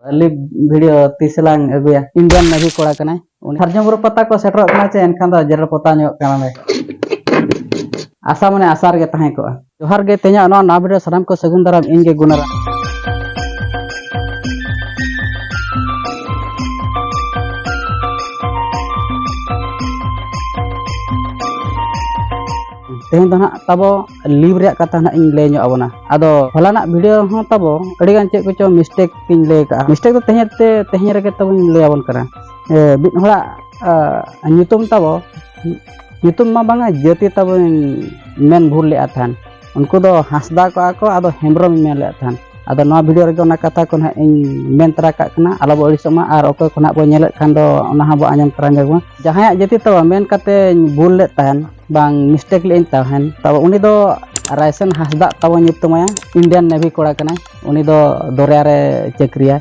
ᱞᱤᱯ video ᱛᱤᱥ ᱞᱟᱝ ᱟᱹᱜᱩᱭᱟ ᱤᱱᱰᱤᱭᱟᱱ ᱱᱮᱵᱷᱤ ᱠᱚᱲᱟ ᱠᱟᱱᱟᱭ ᱩᱱᱤ ᱥᱟᱨᱡᱚᱢ ᱵᱩᱨᱩ ᱯᱟᱛᱟ ᱠᱚ ᱥᱮᱴᱮᱨᱚᱜ ᱠᱟᱱᱟ ᱪᱮ ᱮᱱᱠᱷᱟᱱ ᱫᱚ ᱡᱮᱨᱮᱲ ᱯᱚᱛᱟᱣ ᱧᱚᱜ ᱠᱟᱱᱟᱞᱮ ᱟᱥᱟ ᱢᱟᱱᱮ ᱟᱥᱟ ᱨᱮᱜᱮ ᱛᱟᱦᱮᱸ ᱠᱚᱜᱼᱟ ᱡᱚᱦᱟᱨ ᱜᱮ ᱛᱮᱦᱮᱧᱟᱜ ᱱᱚᱣᱟ ᱱᱟᱣᱟ ᱵᱷᱤᱰᱤᱭᱳ ᱥᱟᱱᱟᱢ ᱠᱚ ᱥᱟᱹᱜᱩᱱ ᱫᱟᱨᱟᱢ ᱤᱧ ᱜᱮ ᱜᱩᱱᱟᱨᱟᱢ ᱛᱮᱦᱮᱧ ᱫᱚ ᱱᱟᱦᱟᱜ ᱛᱟᱵᱚ ᱞᱤᱵᱷ ᱨᱮᱭᱟᱜ ᱠᱟᱛᱷᱟ ᱱᱟᱜ ᱤᱧ ᱞᱟᱹᱭ ᱧᱚᱜ ᱟᱵᱚᱱᱟ ᱟᱫᱚ ᱦᱚᱞᱟᱱᱟᱜ ᱵᱷᱤᱰᱤᱭᱳ ᱦᱚᱸ ᱛᱟᱵᱚ ᱟᱹᱰᱤᱜᱟᱱ ᱪᱮᱫ ᱠᱚᱪᱚ ᱢᱤᱥᱴᱮᱠ ᱤᱧ ᱞᱟᱹᱭ ᱠᱟᱜᱼᱟ ᱢᱤᱥᱴᱮᱠ ᱫᱚ ᱛᱮᱦᱮᱧ ᱛᱮ ᱛᱮᱦᱮᱧ ᱨᱮᱜᱮ ᱛᱟᱵᱚᱧ ᱞᱟᱹᱭ ᱟᱵᱚᱱ ᱠᱟᱱᱟ ᱢᱤᱫ ᱦᱚᱲᱟᱜ ᱧᱩᱛᱩᱢ ᱛᱟᱵᱚ ᱧᱩᱛᱩᱢ ᱢᱟ ᱵᱟᱝᱟ ᱡᱟᱹᱛᱤ ᱛᱟᱵᱚᱧ ᱢᱮᱱ ᱵᱷᱩᱞ ᱞᱮᱫᱼᱟ ᱛᱟᱦᱮᱱ ᱩᱱᱠᱩ ᱫᱚ ᱦᱟᱸᱥᱫᱟ ᱠᱚᱜᱼᱟ ᱠᱚ ᱟᱫᱚ ᱦᱮᱢᱵᱨᱚᱢ ᱢᱮᱱ ᱞᱮᱫ ᱛᱟᱦᱮᱱ ᱟᱫᱚ ᱱᱚᱣᱟ ᱵᱷᱤᱰᱤᱭᱳ ᱨᱮᱜᱮ ᱚᱱᱟ ᱠᱟᱛᱷᱟ ᱠᱚ ᱱᱟᱦᱟᱜ ᱤᱧ ᱢᱮᱱ ᱛᱟᱨᱟ ᱠᱟᱜ ᱠᱟᱱᱟ ᱟᱞᱚ ᱵᱚ ᱟᱹᱲᱤᱥᱚᱜ ᱢᱟ ᱟᱨ ᱚᱠᱚᱭ ᱠᱚ ᱱᱟᱦᱟᱜ ᱵᱚ ᱧᱮᱞᱮᱫ ᱠᱷᱟᱱ ᱫᱚ ᱚᱱᱟ ᱦᱚᱸ ᱵᱚ ᱟᱸᱡᱚᱢ ᱛᱟᱨᱟ ᱧᱚᱜ ᱢᱟ ᱡᱟᱦᱟᱸᱭᱟᱜ ᱡᱟᱹᱛᱤ ᱛᱟᱵᱚ ᱢᱮᱱ ᱠᱟᱛᱮᱧ ᱵᱷᱩᱞ ᱞᱮᱫ ᱛᱟᱦᱮᱱ ᱵᱟᱝ ᱢᱤᱥᱴᱮᱠ ᱞᱮᱫᱟᱹᱧ ᱛᱟᱦᱮᱱ ᱛᱟᱵᱚ ᱩᱱᱤ ᱫᱚ ᱨᱟᱭᱥᱮᱱ ᱦᱟᱸᱥᱫᱟᱜ ᱛᱟᱵᱚ ᱧᱩᱛᱩᱢᱟᱭᱟ ᱤᱱᱰᱤᱭᱟᱱ ᱱᱮᱵᱷᱤ ᱠᱚᱲᱟ ᱠᱟᱱᱟᱭ ᱩᱱᱤ ᱫᱚ ᱫᱚᱨᱭᱟ ᱨᱮ ᱪᱟᱹᱠᱨᱤᱭᱟ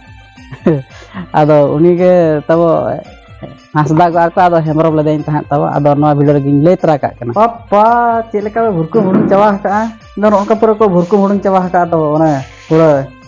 ᱟᱫᱚ ᱩᱱᱤ ᱜᱮ ᱛᱟᱵᱚ ᱦᱟᱸᱥᱫᱟᱜ ᱟᱨ ᱠᱚ ᱟᱫᱚ ᱦᱮᱢᱵᱨᱚᱢ ᱞᱮᱫᱟᱹᱧ ᱛᱟᱦᱮᱸᱫ ᱛᱟᱵᱚ ᱟᱫᱚ ᱱᱚᱣᱟ ᱵᱷᱤᱰᱤᱭᱳ ᱨᱮᱜᱤᱧ ᱞᱟᱹᱭ ᱛᱚᱨᱟ ᱠᱟᱜ ᱠᱟᱱᱟ ᱯᱟᱯᱟ ᱪᱮᱫ ᱞᱮᱠᱟ ᱵᱷᱩᱨᱠᱩ ᱦᱩᱲᱩᱝ ᱪᱟᱵᱟ ᱟᱠᱟᱜᱼᱟ ᱟᱫᱚ ᱱᱚᱝᱠᱟ ᱯᱩᱨᱟᱹ ᱠᱚ ᱵᱷᱩᱨᱠᱩ ᱦᱩᱲᱩᱝ ᱪᱟᱵᱟ ᱟᱠᱟᱫ ᱫᱚ ᱚᱱᱮ ᱯᱩᱨᱟᱹ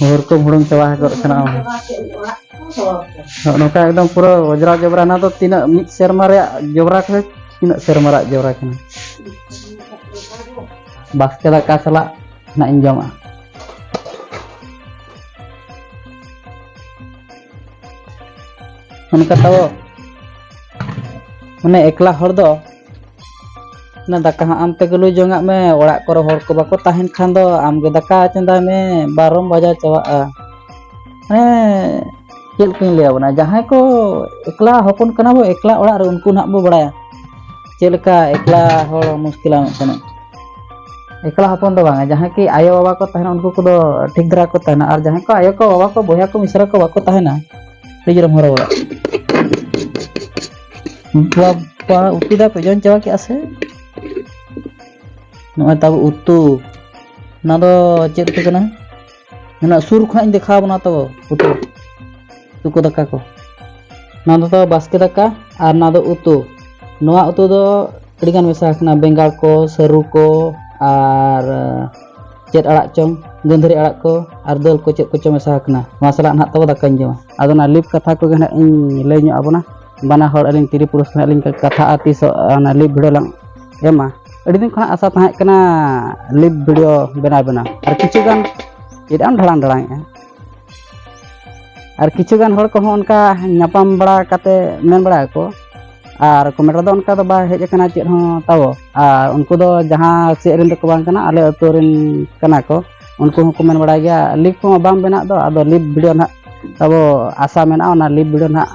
ᱦᱩᱲᱩ ᱠᱚ ᱦᱩᱲᱩᱝ ᱪᱟᱵᱟ ᱜᱚᱫ ᱠᱟᱱᱟ ᱱᱚᱝᱠᱟ ᱮᱠᱫᱚᱢ ᱯᱩᱨᱟᱹ ᱚᱡᱽᱨᱟ ᱡᱚᱵᱽᱨᱟ ᱚᱱᱟ ᱫᱚ ᱛᱤᱱᱟᱹᱜ ᱢᱤᱫ ᱥᱮᱨᱢᱟ ᱨᱮᱭᱟᱜ ᱡᱚᱵᱽᱨᱟ ᱠᱚ ᱛᱤᱱᱟᱹᱜ ᱥᱮᱨᱢᱟ ᱨᱮᱭᱟᱜ ᱡᱚᱵᱽᱨᱟ ᱠᱟᱱᱟ ᱵᱟᱥᱠᱮ ᱫᱟᱠᱟ ᱥᱟᱞᱟᱜ ᱱᱟᱜ ᱤᱧ ᱡᱚᱢᱟ ᱚᱱᱠᱟ ᱛᱟᱵᱚ ᱢᱟᱱᱮ ᱮᱠᱞᱟ ᱦᱚᱲ ᱫᱚ ᱚᱱᱟ ᱫᱟᱠᱟ ᱦᱚᱸ ᱟᱢ ᱛᱮᱜᱮ ᱞᱩ ᱡᱚᱝᱟᱜ ᱢᱮ ᱚᱲᱟᱜ ᱠᱚᱨᱮ ᱦᱚᱲ ᱠᱚ ᱵᱟᱠᱚ ᱛᱟᱦᱮᱱ ᱠᱷᱟᱱ ᱫᱚ ᱟᱢᱜᱮ ᱫᱟᱠᱟ ᱪᱚᱸᱫᱟᱭ ᱢᱮ ᱵᱟᱨᱚᱢ ᱵᱟᱡᱟ ᱪᱟᱵᱟᱜᱼᱟ ᱢᱟᱱᱮ ᱪᱮᱫ ᱞᱮᱠᱟᱧ ᱞᱟᱹᱭ ᱟᱵᱚᱱᱟ ᱡᱟᱦᱟᱸᱭ ᱠᱚ ᱮᱠᱞᱟ ᱦᱚᱯᱚᱱ ᱠᱟᱱᱟ ᱵᱚ ᱮᱠᱞᱟ ᱚᱲᱟᱜ ᱨᱮ ᱩᱱᱠᱩ ᱱᱟᱦᱟᱜ ᱵᱚ ᱵᱟᱲᱟᱭᱟ ᱪᱮᱫ ᱞᱮᱠᱟ ᱮᱠᱞᱟ ᱦᱚᱲ ᱢᱩᱥᱠᱤᱞᱟ ᱢᱤᱫᱴᱮᱱ ᱮᱠᱞᱟ ᱦᱚᱯᱚᱱ ᱫᱚ ᱵᱟᱝᱟ ᱡᱟᱦᱟᱸᱭ ᱠᱤ ᱟᱭᱳ ᱵᱟᱵᱟ ᱠᱚ ᱛᱟᱦᱮᱱᱟ ᱩᱱᱠᱩ ᱠᱚᱫᱚ ᱴᱷᱤᱠ ᱫᱷᱟᱨᱟ ᱠᱚ ᱛᱟᱦᱮᱱᱟ ᱟᱨ ᱡᱟᱦᱟᱸᱭ ᱠᱚ ᱟᱭᱳ ᱠᱚ ᱵᱟᱵᱟ ᱠᱚ ᱵᱚᱭᱦᱟ ᱠᱚ ᱢᱤᱥᱨᱟ ᱠᱚ ᱵᱟᱠᱚ ᱛᱟᱦᱮᱱᱟ ᱟᱹᱰᱤ ᱡᱳᱨᱮᱢ ᱦᱚᱨᱚᱵᱚᱨᱚᱜᱼᱟ ᱵᱟᱵᱟ ᱩᱛᱩ ᱫᱟ ᱯᱮ ᱡᱚᱢ ᱪᱟᱵᱟ ᱠᱮᱜᱼᱟ ᱥᱮ ᱱᱚᱜᱼᱚᱭ ᱛᱟᱵᱚ ᱩᱛᱩ ᱚᱱᱟ ᱫᱚ ᱪᱮᱫ ᱩᱛᱩ ᱠᱟᱱᱟ ᱚᱱᱟ ᱥᱩᱨ ᱠᱷᱚᱱᱟᱜ ᱤᱧ ᱫᱮᱠᱷᱟᱣ ᱵᱚᱱᱟ ᱛᱟᱵᱚ ᱩᱛᱩ ᱩᱛᱩ ᱫᱟᱠᱟ ᱠᱚ ᱚᱱᱟ ᱫᱚ ᱛᱟᱵᱚ ᱵᱟᱥᱠᱮ ᱫᱟᱠᱟ ᱟᱨ ᱚᱱᱟ ᱫᱚ ᱩᱛᱩ ᱱᱚᱣᱟ ᱩᱛᱩ ᱫᱚ ᱟᱹᱰᱤᱜᱟᱱ ᱢᱮᱥᱟ ᱟᱠᱟᱱᱟ ᱵᱮᱸᱜᱟᱲ ᱠᱚ ᱥᱟᱹᱨᱩ ᱠᱚ ᱟᱨ ᱪᱮᱫ ᱟᱲᱟᱜ ᱪᱚᱝ ᱜᱟᱹᱫᱷᱟᱹᱨᱤ ᱟᱲᱟᱜ ᱠᱚ ᱟᱨ ᱫᱟᱹᱞ ᱠᱚ ᱪᱮᱫ ᱠᱚᱪᱚ ᱢᱮᱥᱟ ᱟᱠᱟᱱᱟ ᱱᱚᱣᱟ ᱥᱟᱞᱟᱜ ᱱᱟᱦᱟᱜ ᱛᱟᱵᱚ ᱫᱟᱠᱟᱧ ᱡᱚᱢᱟ ᱟᱫᱚ ᱚᱱᱟ ᱞᱤᱯ ᱠᱟᱛᱷᱟ ᱠᱚᱜᱮ ᱱᱟᱦᱟᱜ ᱤᱧ ᱞᱟᱹᱭ ᱧᱚᱜ ᱟᱵᱚᱱᱟ ᱵᱟᱱᱟ ᱦᱚᱲ ᱟᱹᱞᱤᱧ ᱛᱤᱨᱤ ᱯᱩᱨᱩᱥ ᱱᱟᱦᱟᱜ ᱞᱤᱧ ᱠᱟᱛᱷᱟᱜᱼᱟ ᱛᱤᱥᱚᱜ ᱚᱱᱟ ᱞᱤᱯ ᱵᱷᱤᱰᱤᱭᱳ ᱞᱟᱝ ᱮᱢᱟ ᱟᱹᱰᱤ ᱫᱤᱱ ᱠᱷᱚᱱᱟᱜ ᱟᱥᱟ ᱛᱟᱦᱮᱸ ᱠᱟᱱᱟ ᱞᱤᱯ ᱵᱷᱤᱰᱤᱭᱳ ᱵᱮᱱᱟᱣ ᱵᱮᱱᱟᱣ ᱟᱨ ᱠᱤᱪᱷᱩ ᱜᱟᱱ ᱪᱮᱫ ᱟᱢ ᱰᱷᱟᱲᱟᱝ ᱰᱷᱟᱲᱟᱝᱮᱜᱼᱟ ᱟᱨ ᱠᱤᱪᱷᱩ ᱜᱟᱱ ᱦᱚᱲ ᱠᱚᱦᱚᱸ ᱚᱱᱠᱟ ᱧᱟᱯᱟᱢ ᱵᱟᱲᱟ ᱠᱟᱛᱮ ᱢᱮᱱ ᱵᱟᱲᱟ ᱟᱠᱚ ᱟᱨ ᱠᱚᱢᱮᱱᱴ ᱨᱮᱫᱚ ᱚᱱᱠᱟ ᱫᱚ ᱵᱟᱭ ᱦᱮᱡ ᱟᱠᱟᱱᱟ ᱪᱮᱫ ᱦᱚᱸ ᱛᱟᱵᱚ ᱟᱨ ᱩᱱᱠᱩ ᱫᱚ ᱡᱟᱦᱟᱸ ᱥᱮᱫ ᱨᱮᱱ ᱫᱚᱠᱚ ᱵᱟᱝ ᱠᱟᱱᱟ ᱟᱞᱮ ᱟᱹᱛᱩ ᱨᱮᱱ ᱠᱟᱱᱟ ᱠᱚ ᱩᱱᱠᱩ ᱦᱚᱸ ᱠᱚᱢᱮᱱᱴ ᱵᱟᱲᱟᱭ ᱜᱮᱭᱟ ᱞᱤᱯ ᱠᱚᱢᱟ ᱵᱟᱝ ᱵᱮᱱᱟᱜ ᱫᱚ ᱟᱫᱚ ᱞᱤᱯ ᱵᱷᱤᱰᱤᱭᱳ ᱱᱟᱦᱟᱜ ᱛᱟᱵᱚ ᱟᱥᱟ ᱢᱮᱱᱟᱜᱼᱟ ᱚᱱᱟ ᱞᱤᱯ ᱵᱷᱤᱰᱤᱭᱳ ᱱᱟᱦᱟᱜ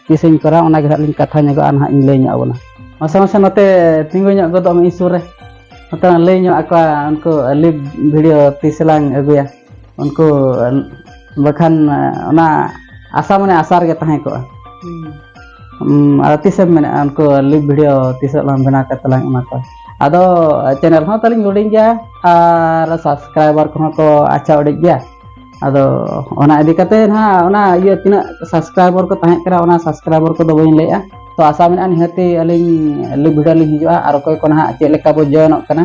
ᱛᱤᱥᱤᱧ ᱠᱚᱨᱟᱣ ᱚᱱᱟ ᱜᱮ ᱱᱟᱦᱟᱜ ᱞᱤᱧ ᱠᱟᱛᱷᱟ ᱧᱚᱜᱚᱜᱼᱟ ᱱᱟᱦᱟᱜ ᱤᱧ ᱞᱟᱹᱭ ᱧᱚᱜ ᱟᱵᱚᱱᱟ ᱢᱟᱥᱮ ᱢᱟᱥᱮ ᱱᱚᱛᱮ ᱛᱤᱸᱜᱩ ᱧᱚᱜ ᱜᱚᱫᱚᱜ ᱢᱮ ᱤᱧ ᱥᱩᱨ ᱨᱮ ᱱᱚᱛᱮ ᱞᱟᱹᱭ ᱧᱚᱜ ᱟᱠᱚᱣᱟ ᱩᱱᱠᱩ ᱞᱤᱯ ᱵᱷᱤᱰᱤᱭᱳ ᱛᱤᱥ ᱞᱟᱝ ᱟᱹᱜᱩᱭᱟ ᱩᱱᱠᱩ ᱵᱟᱠᱷᱟᱱ ᱚᱱᱟ ᱟᱥᱟ ᱢᱟᱱᱮ ᱟᱥᱟ ᱨᱮᱜᱮ ᱛᱟᱦᱮᱸ ᱠᱚᱜᱼᱟ ᱟᱫᱚ ᱛᱤᱥᱮᱢ ᱢᱮᱱᱮᱫᱼᱟ ᱩᱱᱠᱩ ᱞᱤᱯ ᱵᱷᱤᱰᱤᱭᱳ ᱛᱤᱥᱚᱜ ᱞᱟᱝ ᱵᱮᱱᱟᱣ ᱠᱟᱛᱮ ᱞᱟᱝ ᱮᱢᱟ ᱠᱚᱣᱟ ᱟᱫᱚ ᱪᱮᱱᱮᱞ ᱦᱚᱸ ᱛᱟᱹᱞᱤᱧ ᱦᱩᱰᱤᱧ ᱜᱮᱭᱟ ᱟᱨ ᱥᱟᱵᱥᱠᱨᱟᱭᱵᱟᱨ ᱠᱚᱦᱚᱸ ᱠᱚ ᱟᱪᱪᱷᱟ ᱩᱰᱤᱡ ᱜᱮᱭᱟ ᱟᱫᱚ ᱚᱱᱟ ᱤᱫᱤ ᱠᱟᱛᱮ ᱱᱟᱦᱟᱜ ᱚᱱᱟ ᱤᱭᱟᱹ ᱛᱤᱱᱟᱹᱜ ᱥᱟᱵᱥᱠᱨᱟᱭᱵᱟᱨ ᱠᱚ ᱛᱟᱦᱮᱸ ᱠᱟᱱᱟ ᱚᱱᱟ ᱥᱟᱵᱥᱠᱨᱟᱭᱵᱟᱨ ᱠᱚᱫᱚ ᱵᱟᱹᱧ ᱞᱟᱹᱭᱮᱜᱼᱟ ᱛᱚ ᱟᱥᱟ ᱢᱮᱱᱟᱜᱼᱟ ᱱᱤᱦᱟᱹᱛᱤ ᱟᱹᱞᱤᱧ ᱞᱤᱯ ᱵᱷᱤᱰᱤᱭᱳ ᱞᱤᱧ ᱦᱤᱡᱩᱜᱼᱟ ᱟᱨ ᱚᱠᱚᱭ ᱠᱚ ᱱᱟᱦᱟᱜ ᱪᱮᱫ ᱞᱮᱠᱟ ᱵᱚ ᱡᱚᱭᱮᱱᱚᱜ ᱠᱟᱱᱟ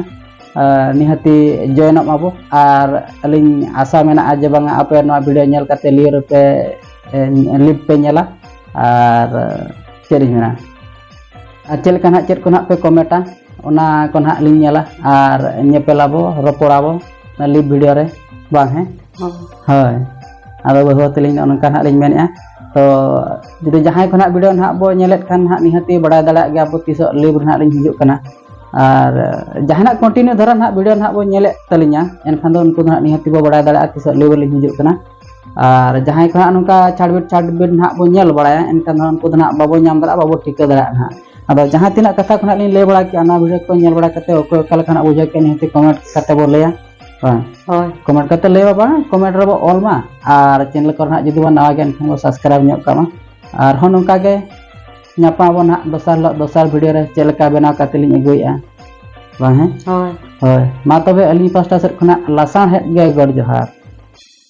ᱱᱤᱦᱟᱹᱛᱤ ᱡᱚᱭᱮᱱᱚᱜ ᱢᱟᱵᱚ ᱟᱨ ᱟᱹᱞᱤᱧ ᱟᱥᱟ ᱢᱮᱱᱟᱜᱼᱟ ᱡᱮ ᱵᱟᱝᱟ ᱟᱯᱮ ᱱᱚᱣᱟ ᱵᱷᱤᱰᱤᱭᱳ ᱧᱮᱞ ᱠᱟᱛᱮ ᱞᱤᱭᱳ ᱨᱮᱯᱮ ᱞᱤᱯ ᱯᱮ ᱧᱮᱞᱟ ᱟᱨ ᱪᱮᱫ ᱤᱧ ᱢᱮᱱᱟ ᱟᱨ ᱪᱮᱫ ᱞᱮᱠᱟ ᱱᱟᱜ ᱪᱮᱫ ᱠᱚ ᱱᱟᱜ ᱯᱮ ᱠᱚᱢᱮᱴᱟ ᱚᱱᱟ ᱠᱚ ᱱᱟᱜ ᱞᱤᱧ ᱧᱮᱞᱟ ᱟᱨ ᱧᱮᱯᱮᱞᱟᱵᱚ ᱨᱚᱯᱚᱲᱟᱵᱚ ᱚᱱᱟ ᱞᱤᱯ ᱵᱷᱤᱰᱤᱭᱳ ᱨᱮ ᱵᱟᱝ ᱦᱮᱸ ᱦᱳᱭ ᱟᱫᱚ ᱵᱟᱹᱦᱩ ᱛᱮᱞᱤᱧ ᱚᱱᱠᱟ ᱱᱟᱜ ᱞᱤᱧ ᱢᱮᱱᱮᱫᱼᱟ ᱛᱚ ᱡᱩᱫᱤ ᱡᱟᱦᱟᱸᱭ ᱠᱚ ᱱᱟᱜ ᱵᱷᱤᱰᱤᱭᱳ ᱱᱟᱜ ᱵᱚ ᱧᱮᱞᱮᱫ ᱠᱷᱟᱱ ᱱᱟᱜ ᱱᱤᱦᱟᱹᱛᱤ ᱵᱟᱲᱟᱭ ᱫᱟᱲᱮᱭᱟᱜ ᱜᱮᱭᱟ ᱵᱚ ᱛᱤᱥᱚᱜ ᱞᱤᱯ ᱨᱮ ᱱᱟᱜ ᱞᱤᱧ ᱦᱤᱡᱩᱜ ᱠᱟᱱᱟ ᱟᱨ ᱡᱟᱦᱟᱱᱟᱜ ᱠᱚᱱᱴᱤᱱᱤᱭᱩ ᱫᱷᱟᱨᱟ ᱱᱟᱦᱟᱜ ᱵᱷᱤᱰᱤᱭᱳ ᱱᱟᱦᱟᱜ ᱵᱚᱱ ᱧᱮᱞᱮᱫ ᱛᱟᱹᱞᱤᱧᱟ ᱮᱱᱠᱷᱟᱱ ᱫᱚ ᱩᱱᱠᱩ ᱫᱚ ᱱᱟᱦᱟᱜ ᱱᱤᱦᱟᱹᱛ ᱵᱚ ᱵᱟᱲᱟᱭ ᱫᱟᱲᱮᱭᱟᱜᱼᱟ ᱛᱤᱥᱚᱜ ᱞᱮᱵᱮᱞ ᱞᱤᱧ ᱦᱤᱡᱩᱜ ᱠᱟᱱᱟ ᱟᱨ ᱡᱟᱦᱟᱸᱭ ᱠᱚ ᱱᱟᱦᱟᱜ ᱱᱚᱝᱠᱟ ᱪᱷᱟᱰᱵᱤᱴ ᱪᱷᱟᱰᱵᱤᱴ ᱱᱟᱦᱟᱜ ᱵᱚᱱ ᱧᱮᱞ ᱵᱟᱲᱟᱭᱟ ᱮᱱᱠᱷᱟᱱ ᱫᱚ ᱩᱱᱠᱩ ᱫᱚ ᱱᱟᱦᱟᱜ ᱵᱟᱵᱚ ᱧᱟᱢ ᱫᱟᱲᱮᱭᱟᱜᱼᱟ ᱵᱟᱵᱚ ᱴᱷᱤᱠᱟᱹ ᱫᱟᱲᱮᱭᱟᱜᱼᱟ ᱱᱟᱦᱟᱜ ᱟᱫᱚ ᱡᱟᱦᱟᱸ ᱛᱤᱱᱟᱹᱜ ᱠᱟᱛᱷᱟ ᱠᱚ ᱱᱟᱦᱟᱜ ᱞᱤᱧ ᱞᱟᱹᱭ ᱵᱟᱲᱟ ᱠᱮᱜᱼᱟ ᱚᱱᱟ ᱵᱷᱤᱰᱤᱭᱳ ᱠᱚ ᱧᱮᱞ ᱵᱟᱲᱟ ᱠᱟᱛᱮ ᱚᱠᱚᱭ ᱚᱠᱟ ᱞᱮᱠᱟ ᱱᱟᱦᱟᱜ ᱵᱩᱡᱷᱟᱹᱣ ᱠᱮᱜᱼᱟ ᱱᱤᱦᱟᱹᱛ ᱠᱚᱢᱮᱱᱴ ᱠᱟᱛᱮ ᱵᱚ ᱞᱟᱹᱭᱟ ᱦᱳᱭ ᱦᱳᱭ ᱠᱚᱢᱮᱱᱴ ᱠᱟᱛᱮ ᱞᱟᱹᱭ ᱵᱟᱵᱟ ᱠᱚᱢᱮᱱᱴ ᱨᱮᱵᱚ ᱚᱞ ᱢᱟ ᱟᱨ ᱪᱮᱱᱮᱞ ᱠᱚᱨᱮ ᱱᱟᱦᱟᱜ ᱡᱩᱫᱤ ᱵᱚᱱ ᱱᱟᱣᱟ ᱜᱮᱭᱟ ᱮᱱᱠᱷᱟᱱ ᱵᱚ ᱥᱟᱵᱥᱠᱨᱟᱭᱤᱵᱽ ᱧᱚᱜ ᱠᱟᱜ ᱢᱟ ᱟᱨᱦᱚᱸ ᱱᱚᱝᱠᱟ ᱜᱮ ᱧᱟᱯᱟᱢ ᱟᱵᱚᱱ ᱦᱟᱸᱜ ᱫᱚᱥᱟᱨ ᱦᱤᱞᱳᱜ ᱫᱚᱥᱟᱨ ᱵᱷᱤᱰᱤᱭᱳ ᱨᱮ ᱪᱮᱫ ᱞᱮᱠᱟ ᱵᱮᱱᱟᱣ ᱠᱟᱛᱮ ᱞᱤᱧ ᱟᱹᱜᱩᱭᱮᱫᱼᱟ ᱵᱟᱝ ᱦᱮᱸ ᱦᱳᱭ ᱦᱳᱭ ᱢᱟ ᱛᱚᱵᱮ ᱟᱹᱞᱤᱧ ᱯᱟᱥᱴᱟ ᱥᱮᱫ ᱠᱷᱚᱱᱟᱜ ᱞᱟᱥᱟᱬᱦᱮᱫ ᱜᱮ ᱜᱚᱰ ᱡᱚᱦᱟᱨ